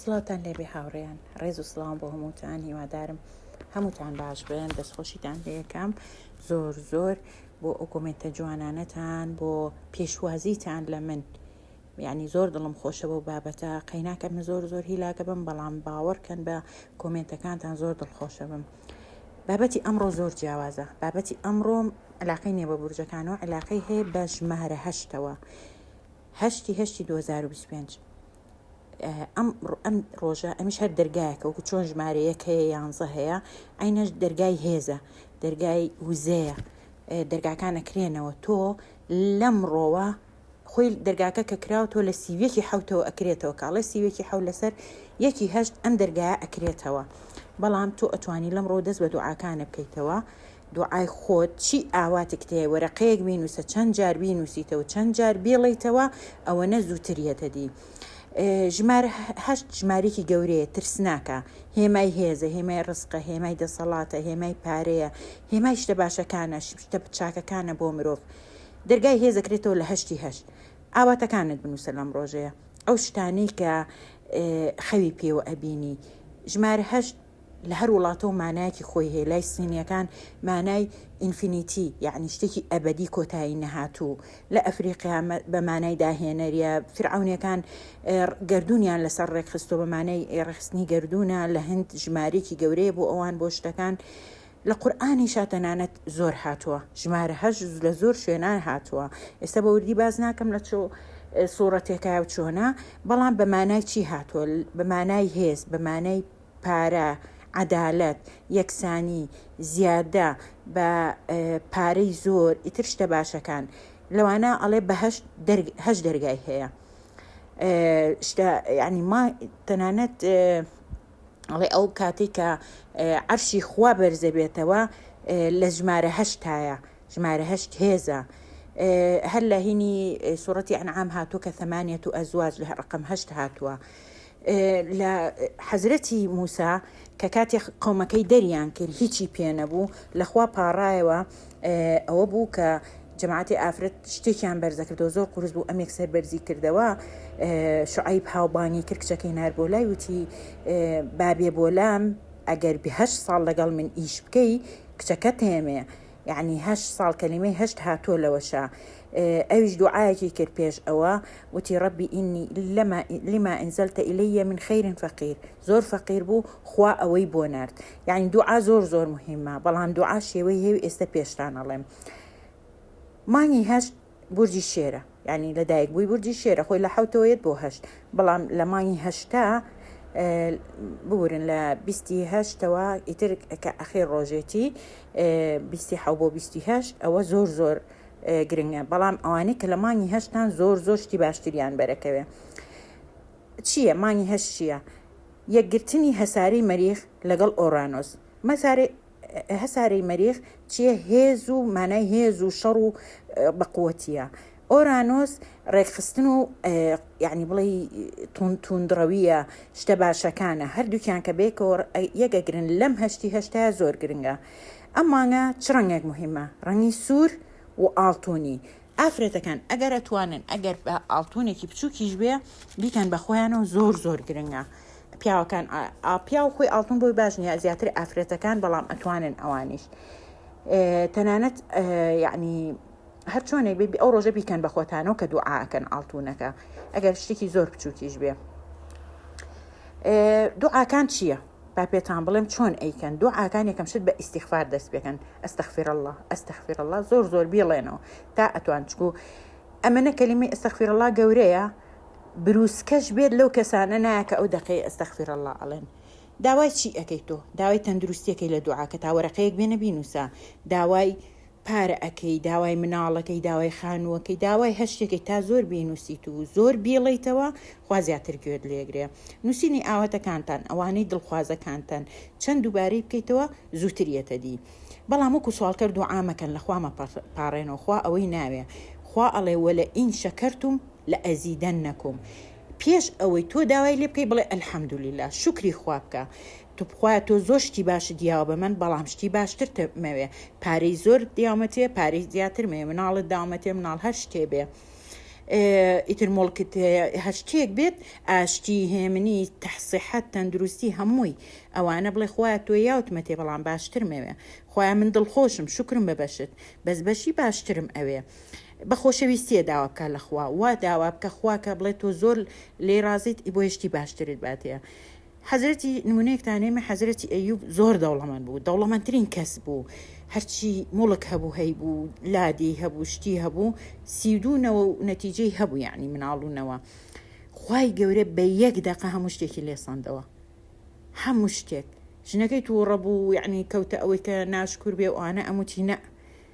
سڵاوتان لێبێ هاوڕێیان ڕێز و سڵاوم بۆ هەمووتان هیوادارم هەمووتان باش بن دەستخۆشیتان لەکەم زۆر زۆر بۆ ئەو کۆمنتە جوانانەتان بۆ پێشوازیتان لە من یعنی زۆر دڵم خۆشە بۆ بابەتە قەیناکە من زۆر زۆر هیلاکە بم بەڵام باوەڕکەن بە کۆمنتەکانتان زۆر دڵخۆشە بم بابەتی ئەمڕۆ زۆر جیاوازە بابەتی ئەمڕۆم علاقەی نیە بە بورجەکانەوە علاقەی هەیە بە ژمارە هەشتەوە هەشت ی هەشت ی دوو هەزار و بیست و پێنج ئەم ئەم ڕۆژە ئەمیش هەر دەرگایەکە وەکو چۆن ژمارە یەک هەیە یانزە هەیە ئەینەش دەرگای هێزە دەرگای وزەیە دەرگاکان ئەکرێنەوە تۆ لەم ڕۆوە خۆی دەرگاکە کە کراوە تۆ لە سیویەکی حوتەوە ئەکرێتەوە کاڵێ سیوێکی حەو لەسەر یەکی هەشت ئەم دەرگایە ئەکرێتەوە بەڵام تۆ ئەتوانی لەم ڕۆ دەست بە دوعاکانە بکەیتەوە دوعای خۆت چی ئاواتیک تێ وەرەقەیەک بینوسە چەند جار بینوسیتەوە چەند جار بیڵێیتەوە ئەوەنە زوتر یەتە دی ژمارە هەشت ژماریکی گەورەیە ترسناکە هێمای هێزە هێمای ڕسقە هێمای دەسەڵاتە هێمای پارەیە هێمای شتە باشەکانە شتە چاکەکانە بۆ مرۆڤ دەرگای هێزەکرێتەوە لە هەشتی هەشت ئاواتەکانت بنووسە لەم ڕۆژەیە ئەو شتانەی کە خەوی پێوە ئەبینی ژمارە هەشت لە هەر وڵاتەو مانایەکی خۆی هەیە لای سینیەکان مانای ئینفینیتی یعنی شتێکی ئەبدی کۆتایی نەهاتوو لە ئەفریقیا بە مانای داهێنەریە فرعونەکان گردردونیان لەسەر ڕێکخستۆ بە مانای ڕخستنی گردونە لە هەند ژمارێکی گەورەیە بۆ ئەوان بۆ شتەکان لە قورآانی شاتەنانەت زۆر هاتووە ژمارە هەش لە زۆر شوێنان هاتووە ئێستا بە وردی باز ناکەم لە چۆ سوڕەتێکای و چۆنا بەڵام بە مانای چی هاتووە بە مانای هێز بە مانای پارە، عەدالەت، یەکسانی، زیادە بە پارەی زۆر ئیتر شتە باشەکان لەوانە ئەڵێ بەهەشت هەشت دەرگای هەیە شتە ینی ما تەنانەت ئەڵێ ئەو کاتی کە عەرشی خوا بەرزەبێتەوە لە ژمارە هەشتایە ژمارە هەشت هێزە هەر لە هینی سوڕەتی ئەنعام هاتووە کە ثمانەت و ئەزواج لە ڕقم هەشت هاتووە لە حەزرەتی موسا کە کاتێ قەومەکەی دەریان کرد هیچی پێ نەبوو لە خوا پاڕایەوە ئەوە بوو کە جەماعەتی ئافرەت شتێکیان بەرزەکردەوە زۆر قورس بوو ئەمێک سەر بەرزی کردەوە شعیب هاوبانی کرد کچەکەی نار بۆ لای وتی بابێ بۆ لام ئەگەر بهش ساڵ لەگەڵ من ئیش بکەی کچەکەت هێمەیە یەعنی هەشت ساڵ کەلیمەی هەشت هاتووە لەوەشا ئەویش دوعایەکی کرد پێش ئەوە وتی ڕەبی ئینی لەما لما انزلت الی من خیر فقیر زۆر فەقیر بوو خوا ئەوەی بۆ نرد یعنی دوعا زۆر زۆر مهمە بەڵام دوعا شێوەی هێوی ئێستا پێشتان ئەڵێم مانگی هەشت بورجی شێرە یانی لە دایک بووی بورجی شێرە خۆی لە حوتەوە یەت بۆ هەشت بەڵام لە مانگی هەشتا بورن لە بیستی هەشتەوە ئیتر کە ئەخێ ڕۆژێتی بیستی حە بۆ بیستی هەشت ئەوە زۆر زۆر گرنگە بەڵام ئەوانەی کە لە مانگی هەشتان زۆر زۆر شتی باشتریان بەرەکەوێ چییە مانگی هەشت چییە یەکگرتنی هەساری مەریخ لەگەڵ ئۆرانۆس مەسارێ هەسارەی مەریخ چیە هێز و مانای هێز و شەڕ و بەقوتیە ئۆرانۆس ڕێکخستن و یعنی بڵێ تون توندڕەویە شتە باشەکانە هەردووکیان کە بێکەوە یەگەگرن لەم هەشتی هەشتا زۆر گرنگە ئەم مانگە چ ڕەنگێک مهمە ڕەنگی سوور و ئاڵتونی ئافرەتەکان ئەگەر ئەتوانن ئەگەر ئاڵتونێکی بچووکیش بێ بیکەن بە خۆیانەوە زۆر زۆر گرنگە پیاوەکان ئاپیا و خۆی ئاڵتون بۆی باش نیە زیاتر ئافرەتەکان بەڵام ئەتوانن ئەوانیش تەنانەت یعنی هەر چۆنێک بێ ئەو ڕۆژە بیکەن بە خۆتانەوە کە دوعاکەن ئاڵتونەکە ئەگەر شتێکی زۆر بچووکیش بێ دوعاکان چییە؟ با پێتان بڵێم چۆن ئەیکەن دوعاکان یەکەم شت بە ئیسیغفار دەست پێکەن ئەستەخفیر اللە ئەستەخفیر اللە زۆر زۆر بیڵێنەوە تا ئەتوان چکو ئەمەە کەلیمی ئەستەخفیر اللە گەورەیە بروسکەش بێت لەو کەسانە نایە کە ئەو دەقەی ئەستەخفیر اللە ئەڵێن داوای چی ئەەکەی تۆ داوای تەندروستیەکەی لە دوعاکە تاوەرەقەیەک بێنە بینوسە داوای پارە ئەکەی داوای مناڵەکەی داوای خانووەکەی داوای هەرشتێکەی تا زۆر بینوسیت و زۆر بیڵێیتەوە خوا زیاتر گوێت لێگرێ نووسینی ئاواتەکانتان ئەوانەی دڵخوازەکانتان چەند دووبارەی بکەیتەوە زووتر یەتە دی بەڵام وەکو سوالکەر دوعا مەکەن لە خوا مەپاڕێنەوە خوا ئەوەی ناوێ خوا ئەڵێ وەلە ئین شەکەرتوم لە ئەزیدەنەکوم پێش ئەوەی تۆ داوای لێ بکەی بڵێ الحمدللە شوکری خوا بکە توخوا تۆ زۆر شتی باشت یاوە بە من بەڵام شتی باشترت مەوێ پارەی زۆر دیامەتێ پارەی زیاتر مەوێ مناڵت دامەتێ مناڵ هەر شتێ بێ ئیتر مڵکت هەر شتێک بێت ئاشتی هێمنی تەحسیحەت تەندروستی هەمووی ئەوانە بڵێ خوا تۆ یاوتمە تێ بەڵام باشتر مەوێ خۆیان من دڵخۆشم شکرم بە بەشت بەس بەشی باشترم ئەوێ بە خۆشەویستیە داوا بکە لە خوا وا داوا بکە خواکە بڵێ تۆ زۆر لێ رازیت ئی بۆ هشتی باشترت باتەیە حەزرەتی نمونەیەکتان نێمە حەزرەتی ئەیوب زۆر دەوڵەمەند بوو دەوڵەمەندترین کەس بوو هەرچی موڵک هەبوو هەیبوو لادێی هەبوو شتی هەبوو سی و دوو نەوە و نەتیجەی هەبوو یعنی مناڵ و نەوە خوای گەورە بە یەک دەقە هەموو شتێکی لێ سەندەوە هەموو شتێک ژنەکەی تووڕە بوو یعنی کەوتە ئەوەی کە ناشکور بێ و ئانە ئەموتی نە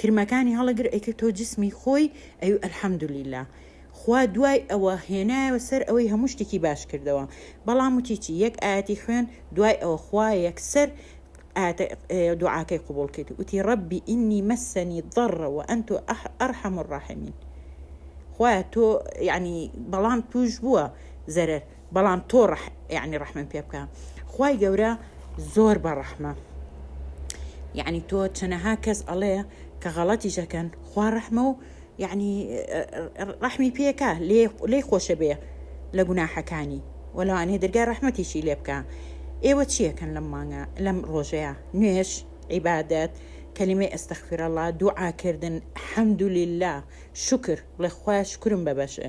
کرمەکانی هەڵەگر ئەیکرد تۆ جسمی خۆی ئەی الحمدللە خوا دوای ئەوە هێنایەوە سەر ئەوەی هەموو شتێکی باش کردەوە بەڵام وتی چی یەک ئایەتی خوێن دوای ئەوە خوا یەکسەر ئاتە دوعاکەی قوبول کرد وتی ڕبی ئینی مەسەنی ضڕە و ئەن تۆ ئەرحەم الراحمین خوایە تۆ یعنی بەڵام توش بووە زەرەر بەڵام تۆ ڕح یعنی ڕحمم پێ بکە خوای گەورە زۆر بە ڕەحمە یعنی تۆ چەنەها کەس ئەڵێ کە غەڵەتی ژەکەن خوا ڕەحمە و یعنی ڕحمی پێکە لێ خۆشە بێ لە گوناحەکانی وەلاوانێ دەرگای ڕحمەتیشی لێ بکە ئێوە چیەکەن لەم مانگە لەم ڕۆژەیە نوێش عیبادەت کەلیمەی ئەستەخفرەڵا دوعاکردن حەمدولیلا شکر بڵێ خخوای شکرم بەبەشێ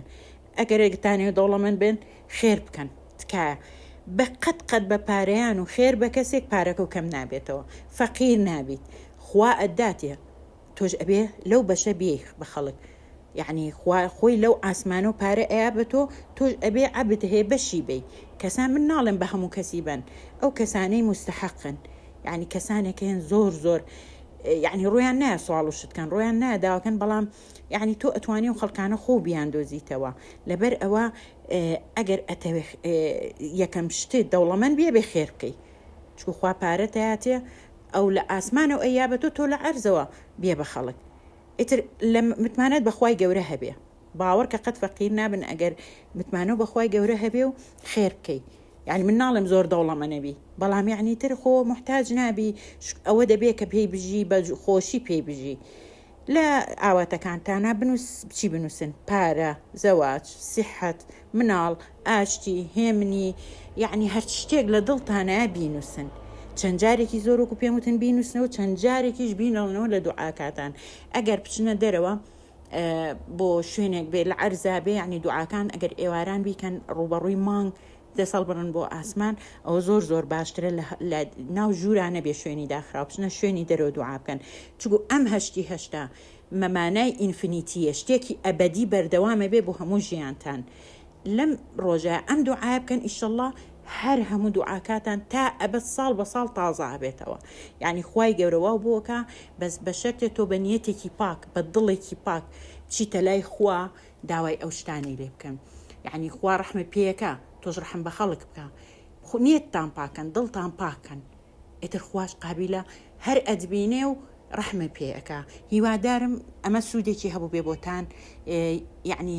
ئەگەر دەتانەوێت دەوڵەمەند بن خێر بکەن تکایە بە قەت قەت بە پارەیان و خێر بە کەسێک پارەکەو کەم نابێتەوە فەقیر نابیت خوا ئەتداتێ تۆش ئەبێ لەو بەشە بێی بە خەڵک یەعنی خوا خۆی لەو ئاسمانە و پارە ئەیا بە تۆ تۆش ئەبێ عەبد هەیە بەشی بەی کەسان من ناڵێم بە هەموو کەسی بەن ئەو کەسانەی مستحقن یعنی کەسانێک هەن زۆر زۆر یعنی ڕویان نایە سواڵ و شتکەن ڕویان نایە داواکەن بەڵام یەعنی تۆ ئەتوانی ئەو خەڵکانە خۆو بیاندۆزیتەوە لەبەر ئەوە ئەگەر ئەتەوێ یەکەم شتێ دەوڵەمەند بێ بێ خێر بکەی چکو خوا پارە تاتێ ئەو لە ئاسمانە و ئەیا بە تۆ تۆ لە عەرزەوە بێ بە خەڵک ئیتر لە متمانەت بەخوای گەورە هەبێ باوەڕ کە قەت فەقیر نابن ئەگەر متمانە و بەخوای گەورە هەبێ و خێر بکەی یعنی من ناڵێم زۆر دەوڵەمە نەبی بەڵام یعنی تر خۆ محتاج نابی ئەوە دەبێ کە پێی بژی بە خۆشی پێی بژی لە ئاواتەکانتانا بنووس چی بنووسن، پارە، زەواج، سیحەت، مناڵ، ئاشتی، هێمنی، یەعنی هەر شتێک لە دڵتانایە بینووسن. چەند جارێکی زۆر وەکو پێم وتن بینووسنەوە چەند جارێکیش بینڵنەوە لە دوعاکاتان. ئەگەر بچنە دەرەوە بۆ شوێنێک بێ لە عەرزا بێ یەعنی دوعاکان ئەگەر ئێواران بیکەن ڕووبەڕووی مانگ دەست هەڵبڕن بۆ ئاسمان ئەوە زۆر زۆر باشترە لە لە ناو ژوورا نەبێ شوێنی داخراو بچنە شوێنی دەرەوە دوعا بکەن چگو ئەم هەشتی هەشتا مە مانای ئینفنیتیە شتێکی ئەبەدی بەردەوامە بێ بۆ هەموو ژیانتان لەم ڕۆژە ئەم دوعایە بکەن ئیشەڵا هەر هەموو دوعاکاتان تا ئەبەد ساڵ بە ساڵ تازە ئەبێتەوە یعنی خوای گەورە واو بۆکە بەس بە شەرتێ تۆ بە نیەتێکی پاک بە دڵێکی پاک بچیتە لای خوا داوای ئەو شتانەی لێ بکەن یەعنی خوا ڕەحمت پێیەکا تۆش ڕەحم بە خەڵک بکە خو نیەتتان پاکەن دڵتان پاکەن ئیتر خواش قابیلە هەر ئەتبینێ و ڕەحمە پێ ئەکا هیوادارم ئەمە سوودێکی هەبوو بێ بۆتان یعنی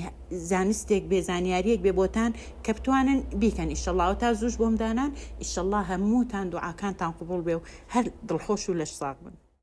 زانستێک بێ زانیاریەک بێ بۆتان کە بتوانن بیکەن ئیشەڵاوە تا زوش بۆمدانان ئیشەله هەمووتان دوعاکانتان قوبول بێ و هەر دڵخۆش و لەش ساغ بن